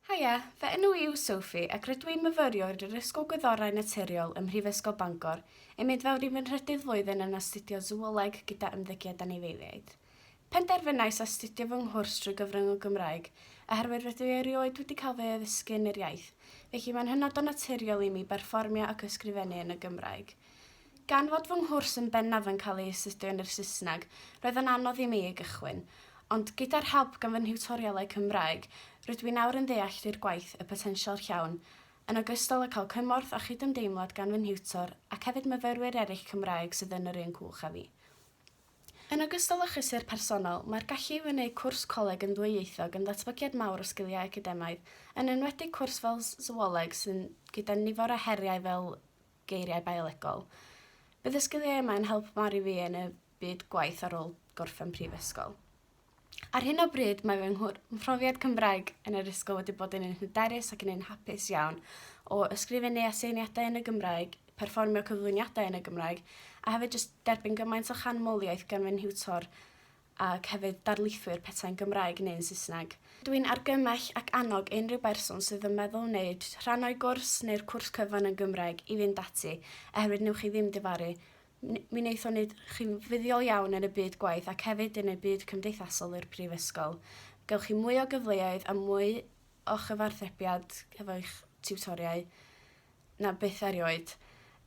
Haia, fy enw i yw Sophie ac rydw i'n myfyriwr i'r Ysgol Gwyddorau Naturiol ym Mhrifysgol Bangor, yn mynd fewn i fy nhrydydd flwyddyn yn astudio Sŵoleg gyda Ymddygiad Anifeiliaid. Penderfynais astudio fy nghwrs drwy gyfrwng y Gymraeg oherwydd rydw i erioed wedi cael fy addysgu yn yr iaith, felly mae'n hynod o naturiol i mi berfformio ac ysgrifennu yn y Gymraeg. Gan fod fy nghwrs yn bennaf yn cael ei astudio yn yr Saesneg, roedd yn anodd i mi ei gychwyn. Ond, gyda'r help gan fy nhiwtorialau Cymraeg, rydw i nawr yn ddeall i'r gwaith y potensial llawn, yn ogystal â cael cymorth a chydymdeimlad gan fy nhiwtor ac hefyd myfyrwyr eraill Cymraeg sydd yn yr un cwch â fi. Yn ogystal â chlysur personol, mae'r gallu i wneud cwrs coleg yn ddwyieithog yn ddatblygiad mawr o sgiliau academaidd, yn enwedig cwrs fel Sŵoleg sy'n gyda nifer o heriau fel geiriau biolegol. Bydd y sgiliau yma yn help mawr i fi yn y byd gwaith ar ôl gorffen prifysgol. Ar hyn o bryd mae fy mhrofiad Cymraeg yn yr ysgol wedi bod yn un hyderus ac yn un hapus iawn o ysgrifennu aseiniadau yn y Gymraeg, perfformio cyflwyniadau yn y Gymraeg a hefyd jyst derbyn gymaint o chanmoliaeth gan fy nhiwtor ac hefyd darlithwyr petai'n Gymraeg neu'n Saesneg. Dw i'n argymell ac annog unrhyw berson sydd yn meddwl wneud rhan o'i gwrs neu'r cwrs cyfan yn Gymraeg i fynd ati, oherwydd newch chi ddim difaru. Mi wneith o wneud chi'n fuddiol iawn yn y byd gwaith ac hefyd yn y byd cymdeithasol i'r Brifysgol. Gewch chi mwy o gyfleoedd a mwy o chyfarthrebiad hefo'ch tiwtoriau. na byth erioed.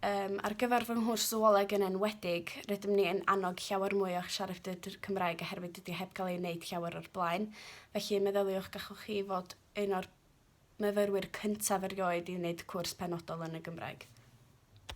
Yym ar gyfer fy nghwrs sywioleg yn enwedig rydym ni yn annog llawer mwy o'ch siaradwyr dr- Cymraeg oherwydd dydi o heb gael ei wneud llawer o'r blaen. Felly meddyliwch gallwch chi fod un o'r myfyrwyr cyntaf erioed i wneud cwrs penodol yn y Gymraeg.